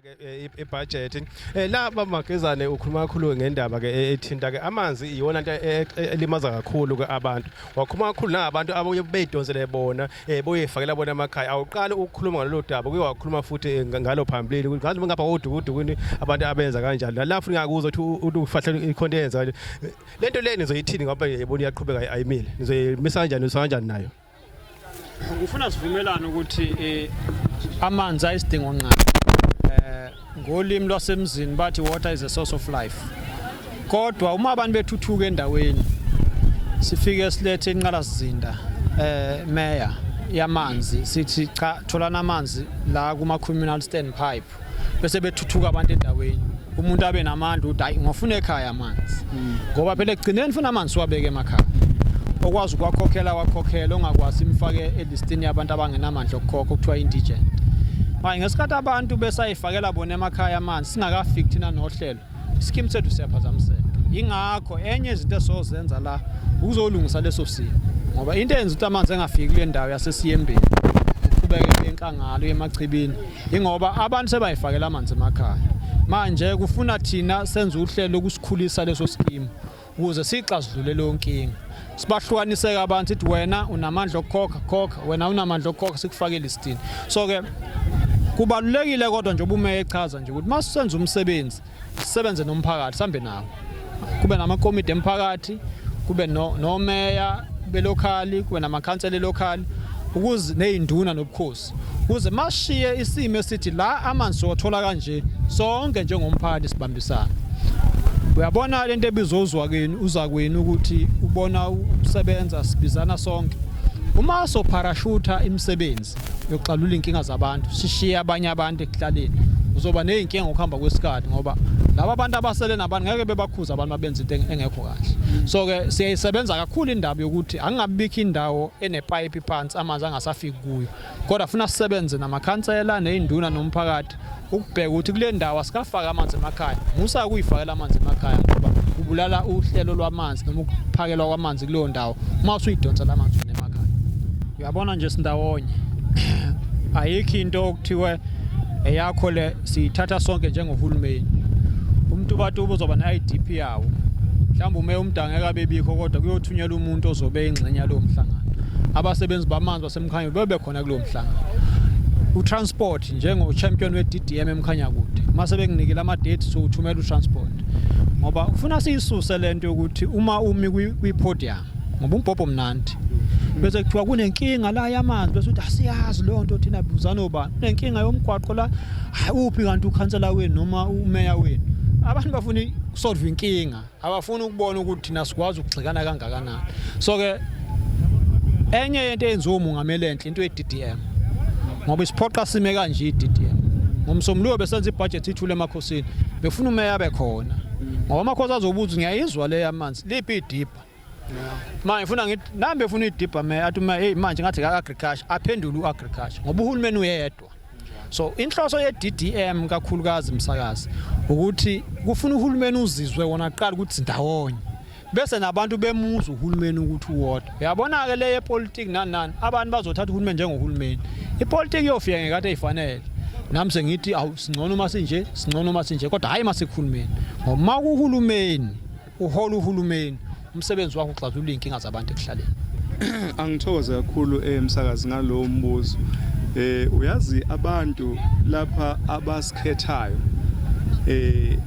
ke eh, ibudget eh la baba Magezane ukhuluma kakhulu ngendaba ke eh, ethinta ke amanzi iyona into eh, elimaza kakhulu ke abantu wakhuluma kakhulu nabantu abaye beyidonsele bona eh boyefakela bona amakhaya awuqali ukukhuluma ngalolu daba kuye wakhuluma futhi ngalo phambili ngathi ngapha kodukudukuni abantu abenza kanjalo la futhi ngakuzwa ukuthi ufahla ikhonto yenza lento leni nizoyithini ngoba yebona iyaqhubeka ayimile nizoyimisa kanjani nizoyimisa kanjani nayo Ngifuna sivumelane ukuthi eh, amanzi ayisidingo nqaba. Eh ngolimi lwasemzini bathi water is a source of life. Kodwa uma abantu bethuthuka endaweni sifike silethe inqala sizinda eh mayor yamanzi sithi cha tholana amanzi la kuma communal standpipe bese bethuthuka abantu endaweni umuntu abe namandla ukuthi hayi ngofuna ekhaya amanzi hmm. ngoba phela ekugcineni funa amanzi siwabeke emakhaya okwazi ukwakhokhela wakhokhela ongakwazi imfake elistini yabantu abangenamandla okukhokha okuthiwa indigent manje ngesikhathi abantu besayifakela bona emakhaya amanzi singakafiki thina nohlelo isikimu sethu siyaphazamiseka yingakho enye izinto esizozenza la ukuzolungisa leso simo ngoba into eyenza ukuthi amanzi engafiki kule ndawo yasesiyembeni uqhubeke enkangalo yemachibini ingoba abantu sebayifakela amanzi emakhaya manje kufuna thina senze uhlelo lokusikhulisa leso sikimu ukuze siyixazulule leyo nkinga sibahlukaniseke abantu sithi wena unamandla okukhokha khokha wena unamandla okukhokha sikufakele isitini so ke kubalulekile kodwa nje ubumeya echaza nje ukuthi masisenza umsebenzi sisebenze nomphakathi sambe nawo kube namakomidi emphakathi kube nomeya belokhali kube namakhansela elokhali ukuze nezinduna nobukhosi kuze mashiye isimo esithi la amanzi siwathola kanje sonke njengomphakathi sibambisana uyabona lento ebizwa uzwakeni uzakwenu ukuthi ubona usebenza sibizana sonke uma sopharashutha imisebenzi yokuxalula inkinga zabantu sishiye abanye abantu ekuhlaleni uzoba nezinkinga ngokuhamba kwesikhathi ngoba laba abantu abasele nabantu ngeke bebakhuza abantu abenza into engekho kahle so ke siyayisebenza kakhulu indaba yokuthi angingabikho indawo enepipe phansi amanzi angasafiki kuyo kodwa funa sisebenze namakhansela ney'nduna nomphakathi ukubheka ukuthi kule ndawo asikafaki amanzi emakhaya musa kuyifakela amanzi emakhaya ngoba kubulala uhlelo lwamanzi noma ukuphakelwa kwamanzi kuleyo ndawo uma usuyidonsa la manzi emakhaya uyabona nje sindawonye ayikho into okuthiwe eyakho le Sithatha sonke njengohulumeni umtubatuba uzoba ne-IDP yawo mhlawumbe umeya umdangeka abebikho kodwa kuyothunyelwa umuntu ozobe ingxenye yalowo mhlangano abasebenzi bamanzi basemkhanyeni bebe khona kulowo mhlangano utransport njengo-champion we-ddm emkhanyakude uma sebenginikile ama-date sokuthumela utransport ngoba ufuna siyisuse le nto yokuthi uma umi kwi-podium ngoba umbhobho mnandi bese kuthiwa kunenkinga la yamanzi bese uthi asiyazi leyo nto thina buzana obani kunenkinga yomgwaqo la hayi uphi kanti ukhansela wenu noma umeya wenu abantu bafuna ukusolve inkinga abafuni ukubona ukuthi thina sikwazi ukugxikana kangakanani so ke enye yento eyenziwa umungameli enhle into ye-DDM ngoba isiphoqa sime kanje i-DDM ngomsombuluko besenza ibhajethi ithule emakhosini befuna umeya abe khona ngoba amakhosi azobuza ngiyayizwa le yamanzi liphi idip manje ngifuna ngithi nami befuna idibha me athi uma hey manje ngathi ka agriculture aphendule uagriculture ngoba uhulumeni uyedwa so inhloso yeDDM kakhulukazi msakazi ukuthi kufuna uhulumeni uzizwe wona kuqala ukuthi ndawonye bese nabantu bemuza uhulumeni ukuthi uwodwa uyabona ke leye politics nani nani abantu bazothatha uhulumeni njengohulumeni ipolitiki iyofika ngekade ifanele nami sengithi awu singcono uma sinje singcono uma sinje kodwa hayi masikhulumeni ngoba uma kuhulumeni uhola uhulumeni umsebenzi wakho uxazulula inkinga zabantu ekuhlaleni angithokoze kakhulu emsakazi eh, ngalowo mbuzo eh uyazi abantu lapha abasikhethayo eh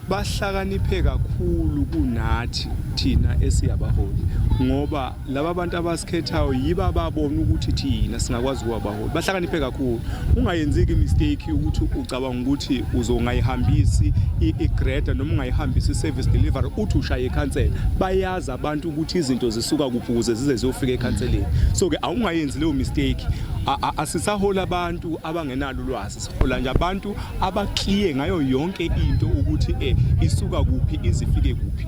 bahlakaniphe kakhulu kunathi thina esiyabaholi ngoba laba bantu abasikhethayo yiba ababona ukuthi thina singakwazi ukuwabaholi bahlakaniphe kakhulu ungayenzeki imistake ukuthi ucabanga ukuthi uzongayihambisi igreda noma ungayihambisi i-service delivery uthi ushaye ikhansela bayazi abantu ukuthi izinto zisuka kuphi ukuze zize ziyofika ekhanseleni so-ke awungayenzi leyo mistake asisahola abantu abangenalo ulwazi sihola nje abantu abakliye ngayo yonke into ukuthi um isuka kuphi izifike kuphi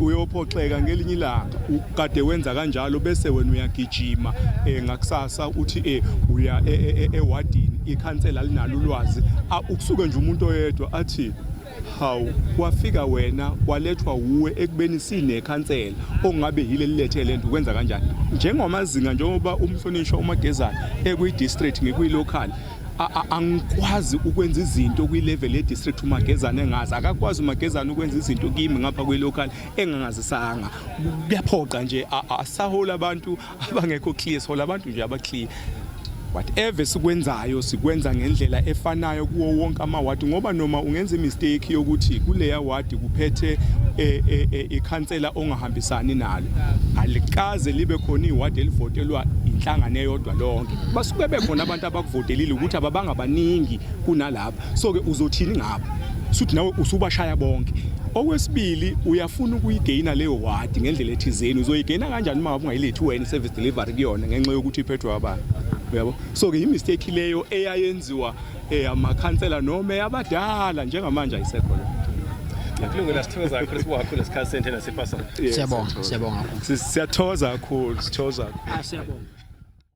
uyophoxeka ngelinye ilanga ukade wenza kanjalo bese wena uyagijima eh, ngakusasa uthi eh, uya e, e, e, ewadini ikhansela linalo ulwazi ukusuke nje umuntu oyedwa athi hawu wafika wena walethwa wuwe ekubeni sinekhansela ongabe yile lilethe lento kwenza kanjani njengamazinga njengoba umhlonishwa umagezana ekwi district ngikwi local angikwazi ukwenza izinto kwi-level ye-district umagezane engazi akakwazi umagezane ukwenza izinto kimi ngapha kwi-local engangazisanga kuyaphoqa nje asahole abantu abangekho clear sihola abantu nje abaclear whatever sikwenzayo sikwenza ngendlela efanayo kuwo wonke amawadi ngoba noma ungenza imistake yokuthi kuleya wadi kuphethe e, e, e, ikhansela ongahambisani nalo alikaze libe khona iwadi elivotelwa inhlangano eyodwa lonke basuke bekhona abantu abakuvotelile ukuthi ababangabaningi kunalapho so ke uzothini ngabo suthi nawe usubashaya bonke okwesibili uyafuna ukuyigeyina leyo wadi ngendlela ethizeni uzoyigeyina kanjani uma ngabe ungayilethi wena service delivery kuyona ngenxa yokuthi iphethwe abantu uyabo so ke imistake leyo eyayenziwa eh, amakhansela noma eyabadala njengamanje ayisekho leyo kulungela sithokoza kakhulu sibuhakho lesikhathi senthe nasipasana siyabonga siyabonga siyathokoza kakhulu sithokoza kakhulu ah, siyabonga